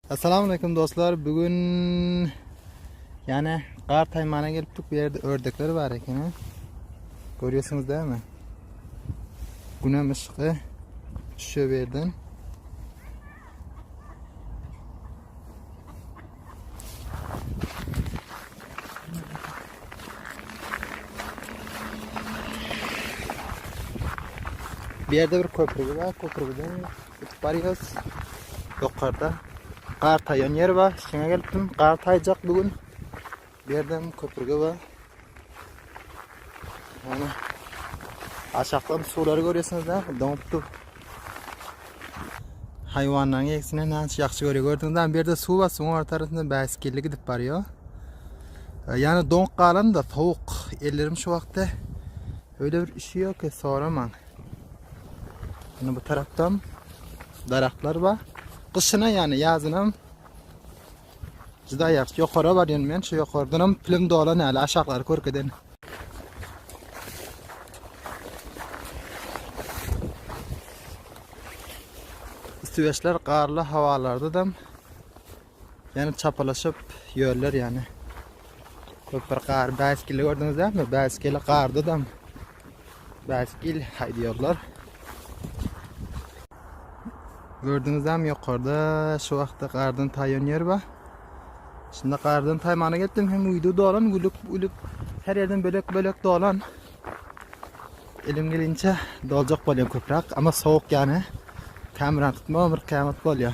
Assalamu aleykum dostlar. Bugün yani gar taymana gelipdik. Bu yerde ördekler var ekeni. Görüyorsunuz değil mi? Günem ışıklı. Düşüyor bir yerden. Bir yerde bir köprü var. Köprüden Gidip barýas. Ýokarda gar taýan ýer bar. Şeňe gelipdim. Gar taýjak bu gün. Bu ýerden köprüge bar. Ýöne aşakdan suwlary görýärsiňiz-dä, doňup dur. Haýwanlaryň ýegsine näçe ýagşy görýär. Gördüňiz-dä, bu ýerde suw bar, suwuň ortarasynda bäsgilli gidip barýar. Ýani doňup galan-da, sowuk. Ellerim şu wagtda öýle bir üşüýär ki, soramaň. Ýöne bu tarapda daragtlar bar. Gyşyna ýany ýazynam juda ýagşy. Ýokara barýan men şu ýokardan hem pilim dolan ýaly aşaklary görkeden. Üstübeşler garly hawalarda da Ýöne çapalaşyp ýörler ýöne. Köp bir gar bäskili gördüňiz dämi? Bäskili garda da bäskil haýdýarlar. Gördüňiz dämi ýokarda şu wagtda gardan taýan ýer bar. Şunda gardan taýmana geldim hem uýdy dolan gülüp gülüp her ýerden bölek bölek dolan. Elim gelinçe doljak bolýan köprak, ama sowuk ýane. Kameran tutma bir kämat bolýar.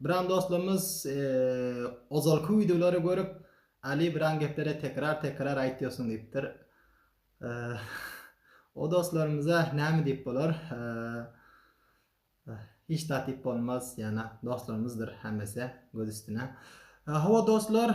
Biran dostlarymyz ozalky wideolary görüp Ali biran gepleri tekrar tekrar aýtýorsuň diýipdir. O dostlarymyza näme diýip bolar? Hiç zat diýip bolmaz, ýana dostlarymyzdyr hemmesi göz üstüne. Hawa dostlar,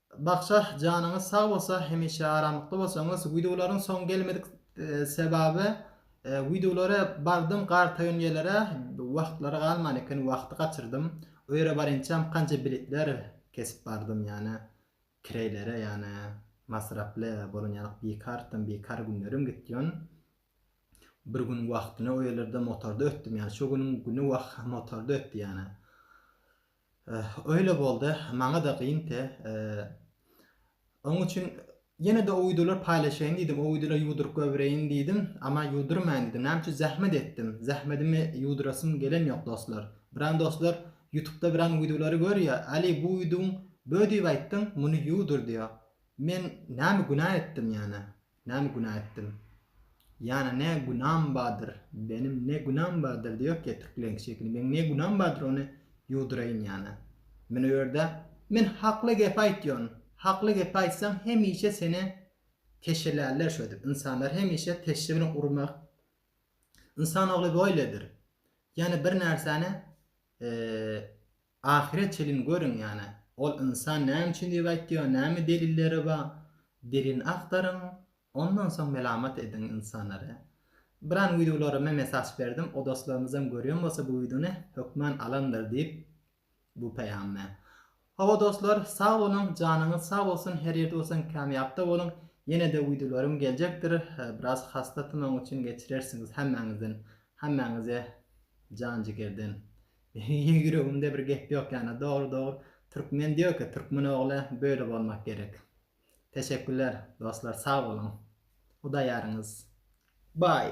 Bakja janyňyz sag bolsa hemişe aramlykda bolsaňyz wideolaryň soňy gelmedik sebabi wideolary bardym gartaýan ýelere wagtlary galman eken wagty gaçyrdym o ýere barynçam kança biletler kesip bardym ýane treýlere ýane masraply bolan ýalyk bikartym bikar günlerim gitdi ýon bir gün wagtyny o ýerlerde motorda ötdüm ýane şo günüň güni wah motorda ötdi ýane. Öýle bolda maňada gyn te oň üçin ýenede o wideolar paýlaşaýyn diýdim o wideolar ýuwduryp goýbereýin diýdim ama ýuwdurmaýyn diýdim näme üçin zähmet etdim zähmedimi ýuwdurasym gelen ýok dostlar biran dostlar ýutubda biran widolary görýä ali bu widoň bö diýip aýtdyň muny ýuwdur diýýä men näme günä etdim ýane Näme günä etdim? Ýana ne günam badyr benim ne günam badyr diýok ýa türkleň şekili meň ne günam badyr ony ýuwduraýyn ýana. Mine bu ýerde men hakly gep aýtýon hakly gep aýtsaň hemişe seni teşelärler şödip ynsanlar hemişe teşşe bilen urmak ynsan ogly boýledir ýani bir närsäni Ahyra çelin görüň ýane ol ynsan näme üçin diýip aýtýar näme delilleri bar delilini agtaryň ondan soň melamat ediň ynsanlary. Biran wideolara men mesaj berdim o dostlarymyzam görýän bolsa bu wideony hökman alandyr diýip bu peýamy. Hawa dostlar sag boluň janyňyz sag bolsun her ýerde bolsaň kämýapda boluň ýenede wideolarym geljekdir biraz hasta tymagym üçin geçirersiňiz hemmäňizden hemmäňize jan jigerden Ýüregimde bir gep ýok ýana dogry dogry türkmen diýoka türkmen ogly böyle bolmak gerek. Teşekkürler dostlar sag boluň. Hudaýýaryňyz. Baý.